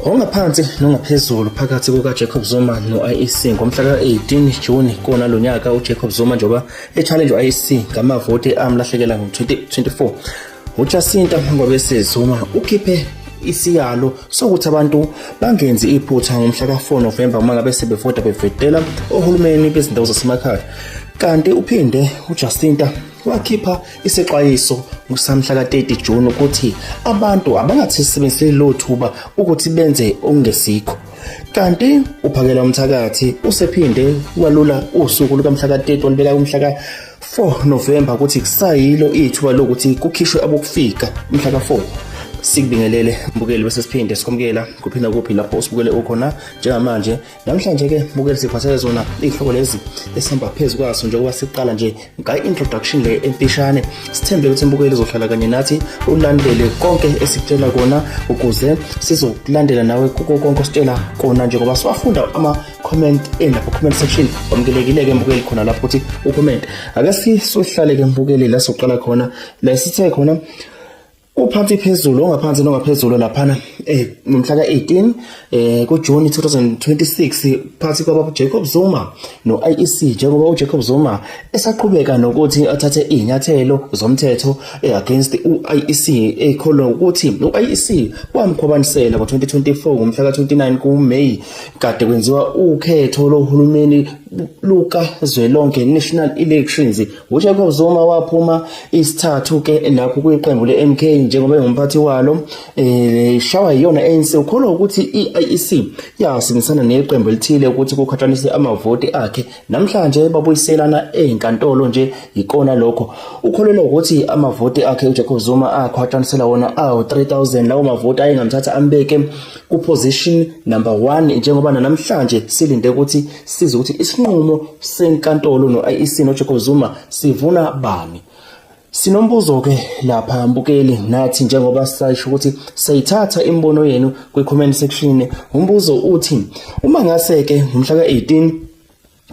Ongaphansi nongaphezulu phakathi kukaJacob Zuma no-IEC ngomhla ka-18 Juni kona lo nyaka uJacob Zuma njengoba e-challenge u-IEC ngamavoti amlahlekela ngo-2024. UJacinta Ngobese Zuma ukhiphe isiyalo sokuthi abantu bangenzi iphutha ngomhla ka-4 Novemba uma ngabe sebevota bevetela ohulumeni bezindawo zasemakhaya Kanti uphinde uJacinta wakhipha isexwayiso ngosamhla ka-30 June ukuthi abantu abangathisebenziseli lo thuba ukuthi benze okungesikho kanti uphakela umthakathi usephinde walula usuku lukamhla ka-30 walibeka kumhla ka 4 November ukuthi kusayilo ithuba lokuthi kukhishwe abokufika umhla ka 4 sikubingelele mbukeli bese siphinde sikhomukela kuphi nakuphi lapho usibukele ukhona njengamanje namhlanje ke bukeli siphathele zona iy'hlobo lezi esihamba phezu kwaso njengoba siqala nje ngayi-introduction le emfishane sithembe ukuthi mbukeli uzohlala kanye nathi ulandele konke esikutshela kona ukuze sizokulandela nawe kuko konke ositshela kona njengoba siwafunda ama-comment endapha comment section wamukelekile-ke mbukeli khona lapho ukuthi ucomment ake sisohlale-ke mbukeli la soqala khona la sithe khona Uphansi phezulu ongaphansi nongaphezulu laphana eh nomhla ka18 eh kuJune 2026 phansi kwababa Jacob Zuma noIEC njengoba uJacob Zuma esaqhubeka nokuthi athathe izinyathelo zomthetho eh, against uIEC ekholwa ukuthi uIEC wamkhwabanisela ngo2024 ngomhla ka29 kuMay kade kwenziwa ukhetho lohulumeni luka zwelonke National Elections UJacob Zuma waphuma isithathu ke lapho kwiqembu leMK njengoba engumphathi walo eh shawa iyona ANC ukholwa ukuthi iIEC yasebenzisana neqembu elithile ukuthi kukhataniswe amavoti akhe namhlanje babuyiselana ezinkantolo nje yikona lokho ukholelwa ukuthi amavoti akhe uJacob Zuma akhwatanisela wona awu 3000 lawo mavoti ayengamthatha ambeke kuposition number 1 njengoba namhlanje silinde ukuthi size ukuthi isinqumo senkantolo no-IEC noJacob Zuma sivuna bani Sinombuzo ke lapha mbukeli nathi njengoba sisho ukuthi sayithatha imibono yenu kwi comment section umbuzo uthi uma ngase ke ngomhla ka 18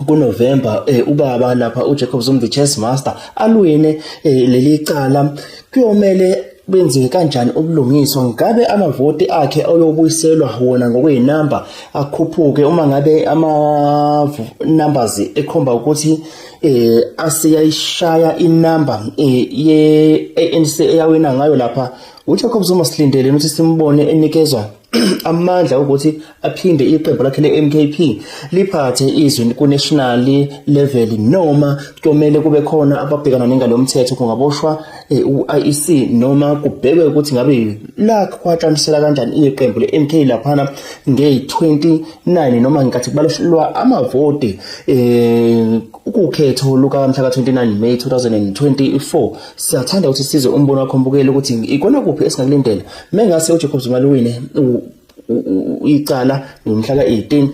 kuNovember eh, ubaba lapha uJacob Zuma the chess master alwine eh, leli cala kuyomele benziwe kanjani ubulungiswa ngabe amavoti akhe ayobuyiselwa wona ngokweyinamba akhuphuke uma ngabe ama numbers ekhomba ukuthi eh asiyayishaya inamba eh, ye ANC eyawina ngayo lapha uJacob Zuma silindele ukuthi simbone enikezwa amandla ukuthi aphinde iqembu lakhe le-MKP liphathe izwi ku-national level noma kuyomele kube khona ababhekana nengalo mthetho kungaboshwa eh, u-IEC noma kubhekwe ukuthi ngabe lakhwatshanisela kanjani iqembu le-MK laphana ngeyi-29 noma ngikathi kubalwa amavoti um ukukhetho lukamhla ka-29 May 2024 siyathanda ukuthi size umbono wakho mbukeli ukuthi ikona kuphi esingakulindela Mengase uJacob Zuma liwine icala ngomhla ka-18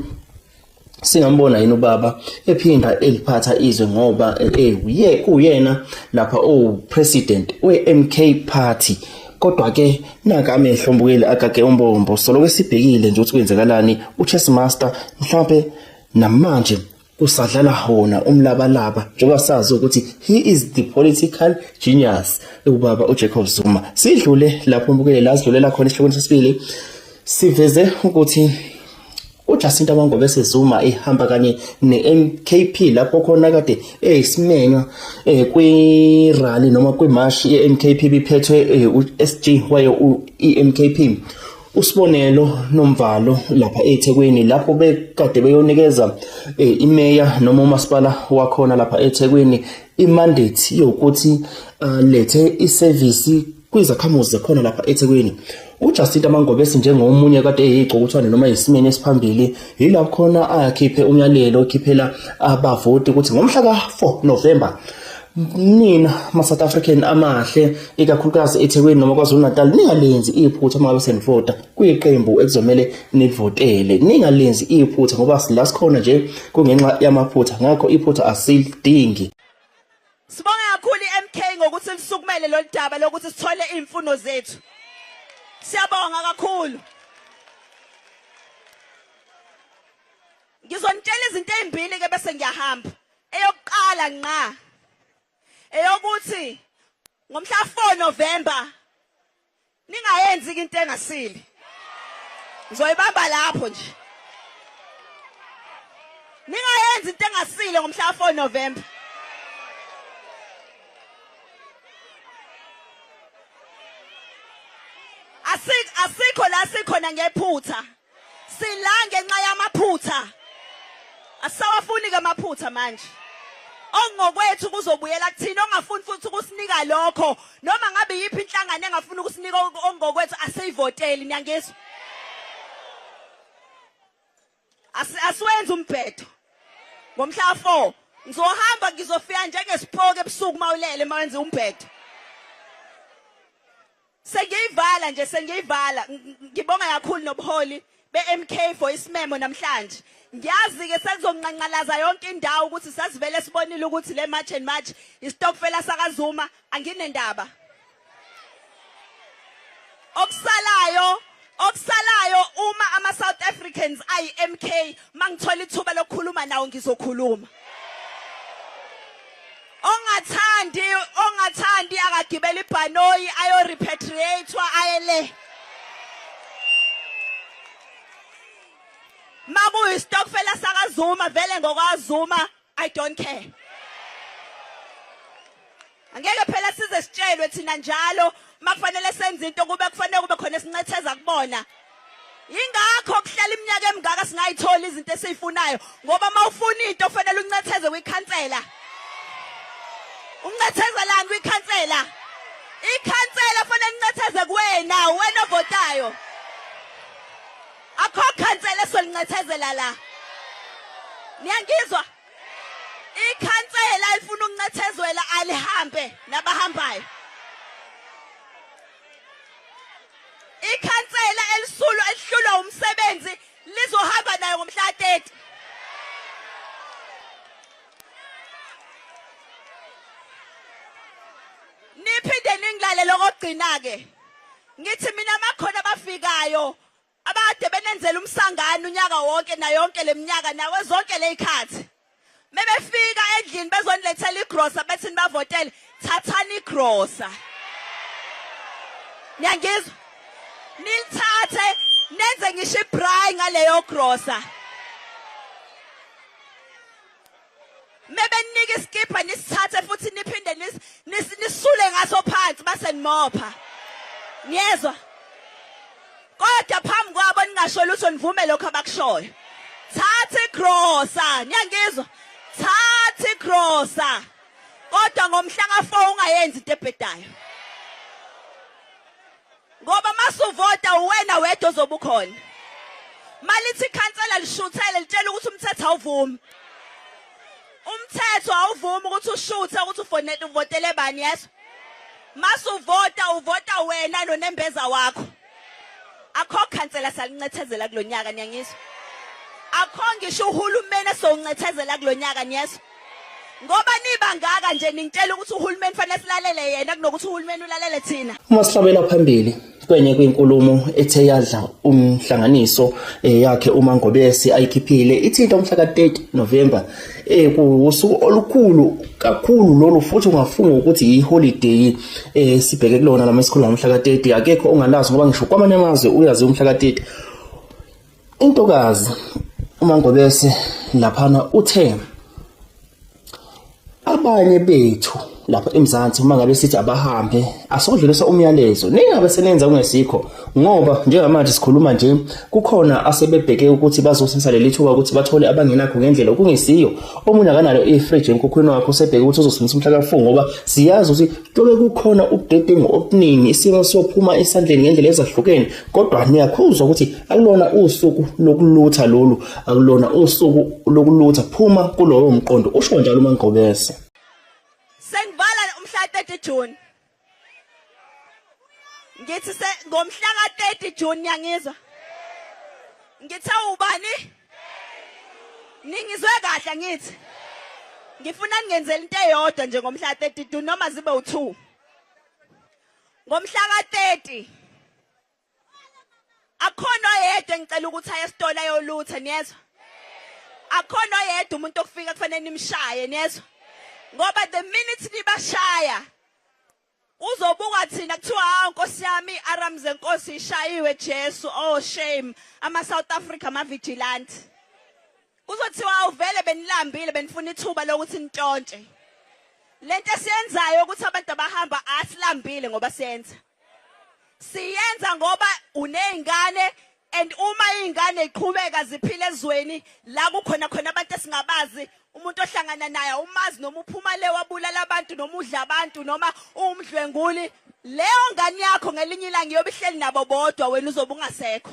singambona yini ubaba ephinda eliphatha izwe ngoba ekuye eh, kuyena lapha opresident weMK party kodwa ke naka amehlo mbukeli agage umbombo solo kwesibhekile nje ukuthi kwenzakalani uChess Master mhlawumbe namanje kusadlala hona umlabalaba njengoba sazi ukuthi he is the political genius ubaba uJacob Zuma sidlule lapho mbukele la sidlulela khona isihloko sesibili siveze ukuthi uJacinta Mangobe sezuma ihamba kanye neMKP lapho khona kade eyisimenywa eh, kwi rally noma kwi march yeMKP biphethwe eh, uSG wayo iMKP uSibonelo Nomvalo lapha eThekwini lapho bekade beyonikeza eh, imeya noma umasipala wakhona lapha eThekwini imandate yokuthi alethe eh, isevisi kwizakhamuzi zekhona lapha eThekwini uJacinta Mangobesi njengomunye kade eyigcokutshwane noma yisimeni esiphambili yilapho khona akhiphe umyalelo okhiphela abavoti ukuthi ngomhla ka-4 November nina ma-south african amahle ikakhulukazi ethekwini noma kwazulu-natal ningalenzi iphutha uma ngabe senivota kuyiqembu ekuzomele nivotele ningalenzi iphutha ngoba la sikhona nje kungenxa yamaphutha ngakho iphutha asilidingi sibonga kakhulu i-mk ngokuthi lisukumele lolu daba lokuthi sithole iy'mfuno zethu siyabonga kakhulu ngizonitshela izinto ey'mbili-ke bese ngiyahamba eyokuqala nqa eyokuthi ngomhla 4 November ningayenzi into engasile ngizoyibamba lapho nje ningayenzi into engasile ngomhla 4 November asikho la sikhona ngephutha Sila ngenxa yamaphutha. Asisawafuni ke amaphutha manje. Ongokwethu kuzobuyela kuthina ongafuni futhi ukusinika lokho noma ngabe yiphi inhlangano engafuni ukusinika ongokwethu aseyivoteli niyangizwa. Asiwenze umbhedo. Ngomhla 4 ngizohamba ngizofika njengesipoke ebusuku mawulele mawenze umbhedo. Sengiyivala nje sengiyivala ngibonga kakhulu nobuholi beMK for isimemo namhlanje ngiyazi ke sekuzonqanqalaza yonke indawo ukuthi sasivele sibonile ukuthi le march and march istokfela sakazuma anginendaba okusalayo Okusalayo uma ama South Africans ayi MK mangithola ithuba lokukhuluma nawo ngizokhuluma. Ongathandi ongathandi akagibela ibhanoyi ayo repatriatewa ayele. Makuyi stokfela sakaZuma vele ngokwaZuma I don't care. Angeke phela size sitshelwe thina njalo makufanele senze into kube kufanele kube khona esincetheza kubona. Ingakho kuhlala iminyaka emingaka singayithola izinto esizifunayo ngoba mawufuna into kufanele uncetheze kwikhansela. Uncethezelani kwikhansela? Ikhansela kufanele uncetheze kuwena wena ovotayo. Akho khansela esolincethezela la. Niyangizwa? Ikhansela ifuna ukuncethezwela alihambe nabahambayo. Ikhansela elisulo elihlulwa umsebenzi lizohamba nayo ngomhla 30. Niphinde ningilale lokugcina ke. Ngithi mina makhona abafikayo abade benenzela umsangano unyaka wonke nayonke leminyaka nawe zonke lezikhathi mebefika endlini bezonilethela igrosa bethi nibavotele thathani igrosa niyangizwa nilithathe nenze ngisho ibray ngaleyo grosa Mebeninika iskipha nisithathe futhi niphinde nisule ngaso phansi base nimopha. Niyezwa? Kodwa phambi kwabo ningasho lutho nivume lokho abakushoyo. Thatha igrosa, niyangizwa? Thatha igrosa. Kodwa ngomhla ka4 ungayenzi into ebhedayo. ngoba masuvota uwena wedwa ozobe ukhona malithi ikhansela lishuthele litshela ukuthi umthetho awuvumi umthetho awuvumi ukuthi ushuthe ukuthi ufonele uvotele bani yeso masuvota uvota wena nonembeza wakho akho khansela salincethezela kulonyaka niyangizwa akho ngisho uhulumeni esowuncethezela kulonyaka niyezwa ngoba niba ngaka nje ningitshela ukuthi uhulumeni fanele silalele yena kunokuthi uhulumeni ulalele thina uma sihlabela phambili kwenye kwinkulumo ethe yadla umhlanganiso eh, yakhe uma ngobese ayikhiphile ithinta umhla ka-30 November eh kuwusuku olukhulu kakhulu lolu futhi ungafunga ukuthi yiholiday eh sibheke kulona lama esikhulu umhla ka-30 akekho ongalazi ngoba ngisho kwamanye amazwe uyazi umhla ka-30 Intokazi uMangobese laphana uthe abanye bethu lapha eMzansi uma ngabe sithi abahambe asodlulisa umyalezo ningabe senenza kungesikho ngoba njengamanje sikhuluma nje kukhona asebebheke ukuthi bazosisa leli thuba ukuthi bathole abangenakho ngendlela okungesiyo omunye akanalo i-fridge enkukhwini wakho sebheke ukuthi uzosindisa umhlaka kafu ngoba siyazi ukuthi Kuyobe kukhona ubudedengu obuningi isimo sophuma esandleni ngendlela ezahlukene kodwa niyakhuzwa ukuthi akulona usuku lokulutha lolu akulona usuku lokulutha phuma kulowo mqondo usho njalo uMangqobese. Sengivala umhla 30 June. ngithi ngomhla ka-30 june niyangizwa ngithe ubani ningizwe kahle ngithi ngifuna ningenzela into eyodwa nje ngomhla ka-30 june noma zibe u-two ngomhla ka-30 akhona oyedwa engicela ukuthi aye esitolo ayolutha niyezwa akhona oyedwa umuntu okufika kufanele nimshaye niyezwa ngoba the minute nibashaya Uzobukwa thina kuthiwa hawu nkosi yami iAram zenkosi ishayiwe Jesu oh shame ama South Africa ama vigilante. Kuzothiwa awuvele benilambile benifuna ithuba lokuthi nitshontshe. Lento esiyenzayo ukuthi abantu abahamba asilambile ngoba siyenza. Siyenza ngoba unezingane and uma izingane iqhubeka ziphila ezweni la kukhona khona abantu esingabazi umuntu ohlangana naye umazi noma uphuma le wabulala abantu noma udla abantu noma uwumdlwenguli leyo ngane yakho ngelinye ilanga iyobe ihleli nabo bodwa wena uzobe ungasekho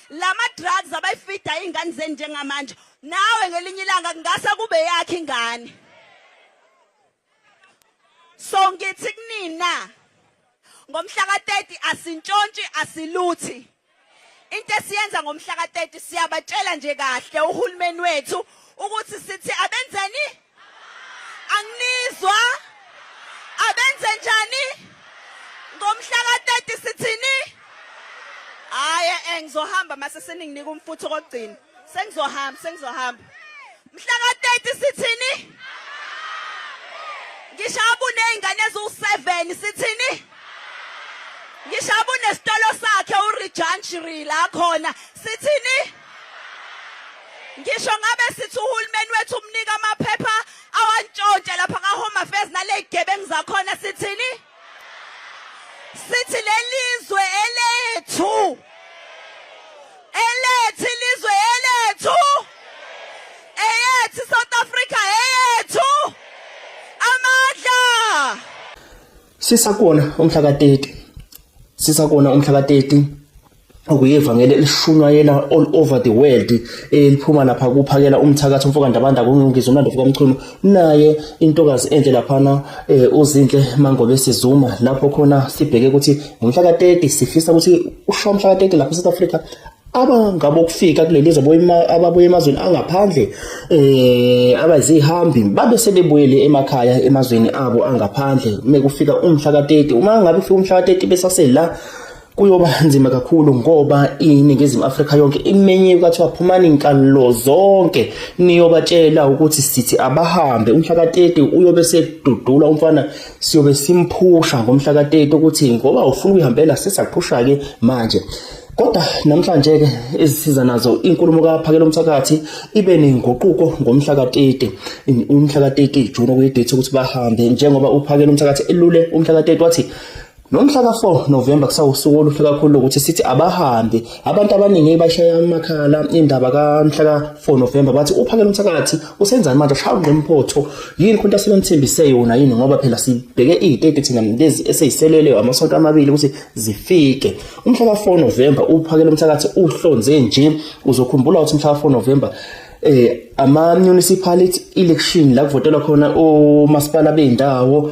lama drugs abayifida izingane zeni njengamanje nawe ngelinye ilanga kungase kube yakhe ingane so ngithi kunina ngomhla ka-30 asintshontshe asiluthi into esiyenza ngomhla ka-30 siyabatshela nje kahle uhulumeni wethu ukuthi sithi abenzeni anginizwa abenze njani ngomhla ka-30 sithini hhayi engizohamba mase seninginika umfutho kokugcina sengizohamba sengizohamba mhla ka-30 sithini ngishaba uney'ngane eziwu-seven sithini ngishaba unesitolo sakhe urijanjiri la khona sithini ngisho ngabe sithi uhulumeni wethu umnika amaphepha awantshontshe lapha ka-home affairs naley'gebengu zakhona sithini sithi lelizwe elethu elethi lizwe elethu eyethi South Africa eyethu amandla sisakona umhla ka 30 sisakona umhla ka 30 okuyivangeli elishunyayela all over the world eliphuma lapha kuphakela umthakathi umfoka Ndabanda kungizo umlando fuka Mchunu naye intokazi enhle laphana eh, uzinhle Mangobe Sizuma lapho khona sibheke ukuthi ngomhla ka 30 sifisa ukuthi usho umhla ka 30 lapha eSouth Africa abangabokufika kuleli zwe ababuye emazweni angaphandle eh abazihambi babe sebebuyele emakhaya emazweni abo angaphandle mekufika umhla ka 30 uma ngabe ufika umhla ka 30 besasela kuyoba nzima kakhulu ngoba iningizimu Afrika yonke imenyiwe kwathiwa phumani inkalo zonke niyobatshela ukuthi sithi abahambe umhla ka-30 uyobe sedudula umfana siyobe simphusha ngomhla ka-30 ukuthi ngoba ufuna ukuyihambela sisakuphusha-ke manje Kodwa namhlanje ke izisiza nazo inkulumo kaphakela umthakathi ibe nenguquko ngomhla ka-30 umhla ka-30 June okuyidate ukuthi bahambe njengoba uphakela umthakathi elule umhla ka-30 wathi Nomhla ka-4 November kusawusuku oluhle kakhulu ukuthi sithi abahambe abantu abaningi bashaya amakhala indaba kamhla ka-4 November bathi uphakela umthakathi usenzani manje shaya ungqimphotho yini khona asebenithembise yona yini ngoba phela sibheke iy'teti thina lezi eseyiselele amasonto amabili ukuthi zifike umhla ka-4 November uphakela umthakathi uhlonze nje uzokhumbula ukuthi umhla ka-4 November eh ama municipality election la kuvotelwa khona omasipala bendawo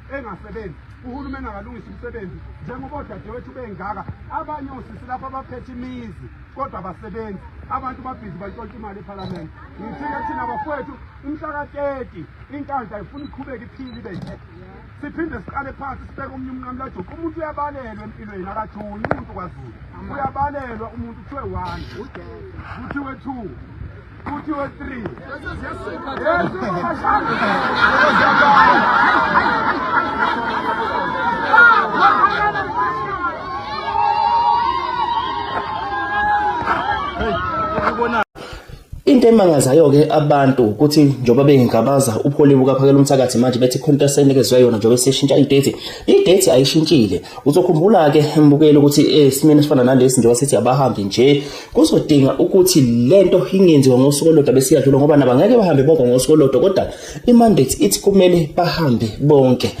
engasebenzi uhulumeni akalungisa umsebenzi njengoba odadewethu bengaka abanye osisi lapho abaphethe imizi kodwa abasebenzi abantu babhizi bantshontsha imali ephalamende ngithike thina bafowethu umhla ka-30 inkandla ifuna iqhubeke iphile ibe nje siphinde siqale phansi sibeke omunye umnqamulajuqu umuntu uyabalelwa empilweni akathuni umuntu kwazulu uyabalelwa umuntu kuthiwe one kuthiwe two kuthiwe three into emangazayo-ke abantu ukuthi njengoba bengingabaza upholi bukaphakela umthakathi manje bethi khona senikezwe yona njengoba seshintsha idate idate ayishintshile uzokhumbula-ke mbukeli ukuthi esimeni eh, esifana nalesi njengoba sithi abahambi nje kuzodinga ukuthi lento ingenziwa ngosuku olodwa besiyadlula ngoba nabo ngeke bahambe bonke ngosuku olodwa kodwa imandate ithi kumele bahambe bonke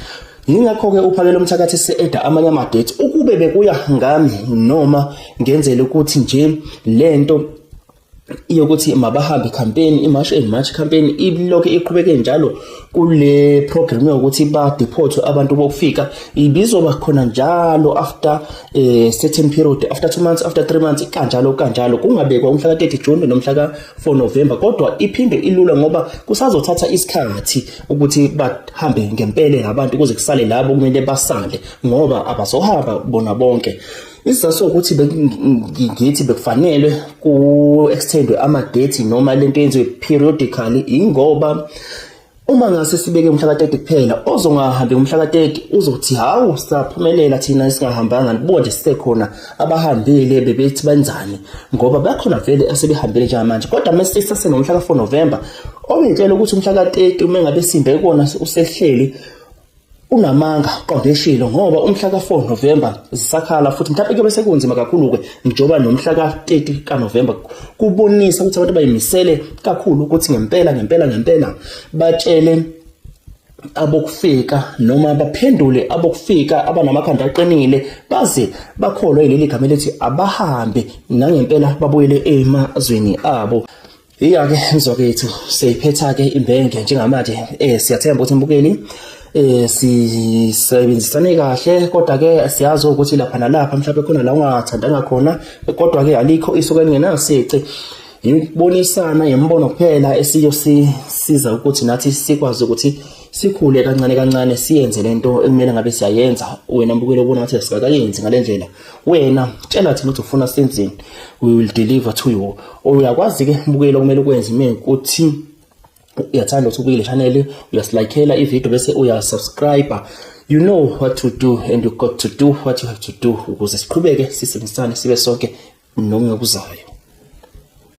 Yingakho-ke uphakela umthakathi se-eda amanye amadethi ukube bekuya ngami noma ngenzela ukuthi nje le nto yokuthi mabahambe campaign imarch and march campaign ibilokhu iqhubeke njalo kule program yokuthi ba deport abantu bokufika ibizoba khona njalo after eh certain period after 2 months after 3 months kanjalo kanjalo kungabekwa umhla ka30 June nomhla ka4 November kodwa iphinde ilula ngoba kusazothatha isikhathi ukuthi bahambe ngempele labantu kuze kusale labo kumele basale ngoba abazohamba bona bonke isizathu ukuthi ngithi bekufanele ku extendwe ama date noma lento yenziwe periodically ingoba Uma ngase sibeke umhla ka-30 kuphela, ozongahambi ngomhla ka-30 uzothi hawu saphumelela thina singahambanga nibuka nje sisekhona abahambile bebethi benzani ngoba bakhona vele asebehambile njengamanje kodwa uma sisase nomhla ka-4 November obintshela ukuthi umhla ka-30 uma ngabe simbe kona usehleli unamanga qonde eshilo ngoba umhla ka-4 November zisakhala futhi mhlawumbe kuyobe sekunzima kakhulu-ke njengoba nomhla ka-30 kaNovember kubonisa ukuthi abantu bayimisele kakhulu ukuthi ngempela ngempela ngempela batshele abokufika noma baphendule abokufika abanamakhanda aqinile baze bakholwe yileli gama elithi abahambe nangempela babuyele emazweni abo Iya ke mzokethu seyiphetha ke imbenge njengamanje eh siyathemba ukuthi mbukeli eh sisebenzisane kahle kodwa ke siyazi ukuthi lapha nalapha mhlawumbe khona la ungathandanga khona kodwa ke alikho isuka lingenasici yibonisana yembono kuphela esiyosiza ukuthi nathi sikwazi ukuthi sikhule kancane kancane siyenze lento ekumele ngabe siyayenza wena mbukelo ubona ukuthi asikayenzi ngalendlela wena tshela thina ukuthi ufuna senzeni we will deliver to you uyakwazi ke mbukeli okumele ukwenze mina ukuthi uyathanda ukuthi ubukele channel uyasilikela ivideo bese uyasubscribe you know what to do and you got to do what you have to do ukuze siqhubeke sisebenzisane sibe sonke noma okuzayo